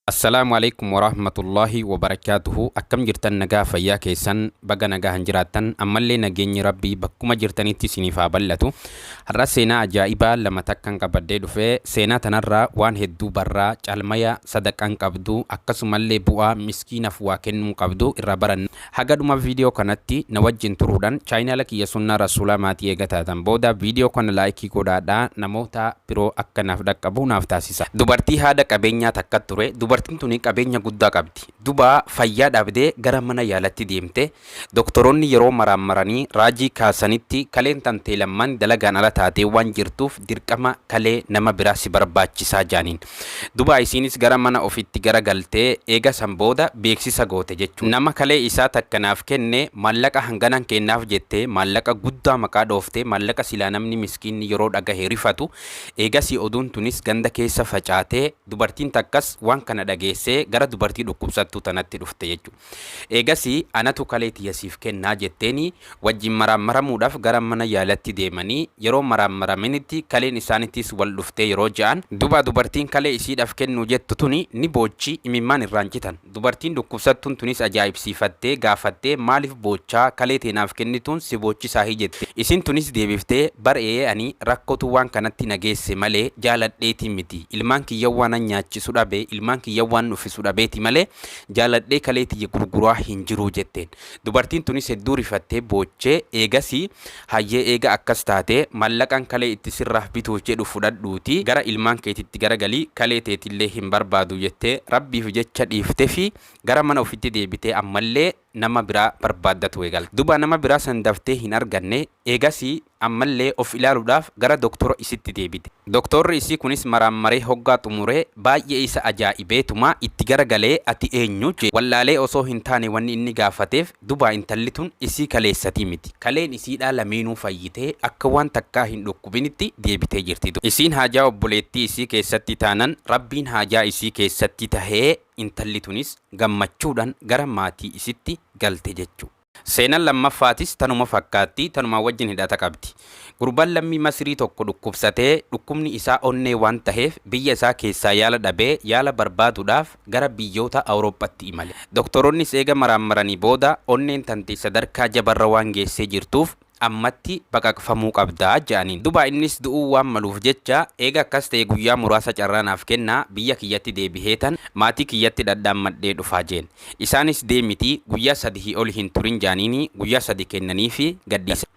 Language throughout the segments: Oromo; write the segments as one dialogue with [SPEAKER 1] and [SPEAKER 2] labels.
[SPEAKER 1] Assalaamu Aleykum Warahmatullaahi Wabarakaatuhu Akkam jirtan nagaa fayyaa keessan baga nagahan jiraattan ammallee nageenyi rabbii bakkuma jirtanitti isiniif haa bal'atu har'a seenaa ajaa'ibaa lama takkan qabadhee dhufe seenaa tanarraa waan hedduu barraa caalmaya sadaqaan qabdu akkasumallee bu'aa miskiinaf waa kennuu qabdu irraa baranna Haga dhuma video kanatti na wajjin turuudhan channel kiyya sunnaa rasuulaa maatii eega taatan booda video kana like godhaadha namoota biro akka naaf dhaqqabu naaf taasisa. Dubartii haadha qabeenyaa takka ture dubartin tuni qabeenya guddaa qabdi duba fayyaa dhabde gara mana yaalatti deemte doktoroonni yeroo maraammaranii raajii kaasanitti kaleen tantee lamman dalagaan ala taatee waan jirtuuf dirqama kalee nama biraa si barbaachisaa jaaniin Duba isiinis gara mana ofitti gara galtee eega san booda beeksisa goote jechuudha. Nama kalee isaa takka naaf kenne maallaqa hanganan keennaaf jette maallaqa guddaa maqaa dhooftee maallaqa silaa namni miskiinni yeroo dhagahe rifatu eegasii oduun tunis ganda keessa facaatee dubartiin takkas waan kana dhageessee gara dubartii dhukkubsattuu tanatti dhufte jechuudha. Eegasii anatu kalee tiyya siif kenna jetteeni wajjin maraammaramuudhaaf gara mana yaalatti deemanii yeroo maraammaramanitti kaleen isaanittis wal dhuftee yeroo ja'an duba dubartiin kalee isiidhaaf kennuu jettu tuni ni boochi imimmaan irraan citan dubartiin dhukkubsattuun tunis ajaa'ibsiifattee gaafattee maaliif boochaa kalee tee naaf kennituun si boochisaahi jette isiin tunis deebiftee bar eeyee ani rakkotu waan kanatti na geesse malee jaaladheeti miti ilmaan kiyya waanan nyaachisu dhabe ilmaan kiyya waanan uffisu dhabeeti malee Jaaladhee kalee tiyya gurguraa hin jiruu jetteen. Dubartiin tunis hedduu rifattee boochee eegasii hayyee eega akkas taate mallaqan kalee itti sirraah bituuf jedhu fudhadhuutii gara ilmaan keetitti garagali kalee teetillee hin barbaadu jettee rabbiif jecha dhiiftefii gara mana ufitti deebitee ammallee nama biraa barbaaddatu eegalte. Duba nama biraa san daftee hin arganne eegasii Ammallee of ilaaluudhaaf gara doktora isitti deebite. Doktorri isii kunis maraammaree hoggaa xumure baay'ee isa ajaa'ibeetuma itti gara galee ati eenyu? jee wallaalee osoo hin taane wanni inni gaafateef dubaa intalli tun isii kaleessatii miti. Kaleen isiidhaa lameenuu fayyitee akka waan takkaa hin dhukkubinitti deebitee jirti duuba. Isiin haajaa obboleettii isii keessatti taanan Rabbiin haajaa isii keessatti tahee intalli tunis gammachuudhan gara maatii isitti galte jechu. Seenan lammaffaatis tanuma fakkaatti, tanumaa wajjin hidhata qabdi. Gurbaan lammii Masirii tokko dhukkubsatee, dhukkubni isaa onnee waan taheef biyya isaa keessaa yaala dhabee, yaala barbaaduudhaaf gara biyyoota Awurooppatti imale. Doktoroonnis eega maraammaranii booda, onneen tante sadarkaa jabarra waan geessee jirtuuf, ammatti baqaqfamuu qabda jedhaniin. Duba innis du'uu waan maluuf jecha, eega akkas ta'e guyyaa muraasa carraa naaf kennaa, biyya kiyyatti deebiheetan maatii kiyyatti dhadhaammadhee dhufaa jeen. Isaanis deemiti guyyaa sadihii oli hin turin jedhaniini guyyaa sadi kennaniifi gadhiisan.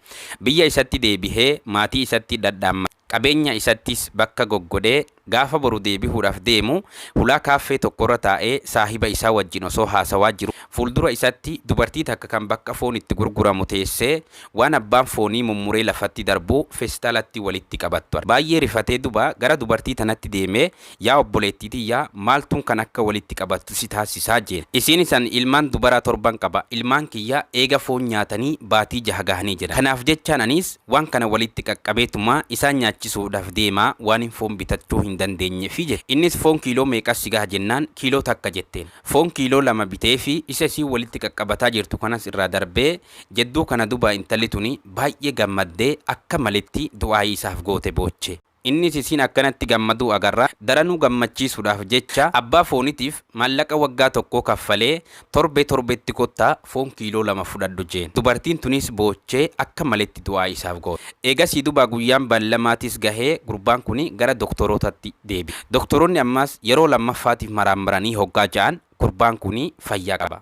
[SPEAKER 1] Biyya isatti deebihee maatii isatti dhadhaammate. Qabeenya isattis bakka goggodhee gaafa boru deebihuudhaaf deemu hulaa kaaffee tokkorra taa'ee saahiba isaa wajjin osoo haasawaa jiruu fuuldura isatti dubartii takka kan bakka foon itti gurguramu teessee waan abbaan foonii mummuree lafatti darbu feestalatti walitti qabattu arge. Baay'ee rifatee duba gara dubartii tanatti deemee Yaa obboleettii tiyya, maaltuun kan akka walitti qabattu si taasisaa? jeen. Isiinis, Ani ilmaan dubaraa torban qaba. Ilmaan kiyya eega foon nyaatanii baatii jaha gahanii jira. Kanaaf jechaan aniis waan kana walitti qaqqabeetuma isaan nyaachisuudhaaf deema, waanin foon bitachuu hin dandeenyeefi jette. Innis, Foon kiiloo meeqa si gaha? jennaan, Kiiloo takka jetteen. Foon kiiloo lama biteefi isa isiin walitti qaqqabataa jirtu kanas irraa darbee, jedduu kana duba intalli tuni baay'ee gammaddee akka maletti du'aa'ii isaaf goote booche. Innis isiin akkanatti gammaduu agarra daranuu gammachiisuudhaaf jecha abbaa foonitiif maallaqa waggaa tokkoo kaffalee torbee torbeetti kottaa foon kiiloo lama fudhadhu jeen. Dubartiin tuniis boochee akka maletti du'aa isaaf goote. Eegasii dubaa guyyaan ballamaatiis gahee gurbaan kuni gara doktorootatti deebi'e. Doktoroonni ammaas yeroo lammaffaatiif maraammaranii hoggaa ja'an gurbaan kuni fayyaa qaba.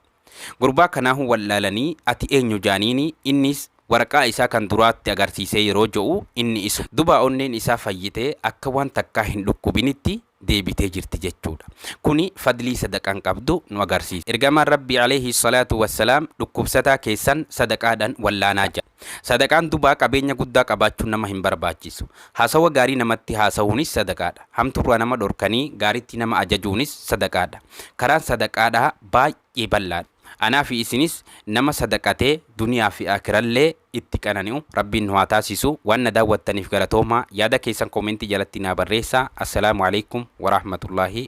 [SPEAKER 1] Gurbaa kanaahu wal'aalanii ati eenyu jaaniini innis waraqaa isaa kan duraa itti agarsiisee yeroo ja'u inni isa dubaa onneen isaa fayyitee akka waan takkaa hin dhukkubinitti deebitee jirti jechuudha. Kuni fadlii sadaqaan qabdu nu agarsiisa. Ergamaan Rabbii Aleyhi salaatu wassalaam dhukkubsataa keessan sadaqaadhan wal'aanaa ja'an. Sadaqaan dubaa qabeenya guddaa qabaachuu nama hin barbaachisu. Haasawa gaarii namatti haasahuunis sadaqaadha. Hamtuurraa nama dhorkanii gaaritti nama ajajuunis sadaqaadha. Karaan sadaqaadhaa baay'ee bal'aadha. Anaafi isinis nama sadaqatee duniyaafi aakirallee itti qanani'u Rabbiin nu haa taasisu. Waan na daawwattaniif galatoomaa. Yaada keessan koomentii jalatti naa barreessaa. Assalaamu aleykum waraahmatullaahi.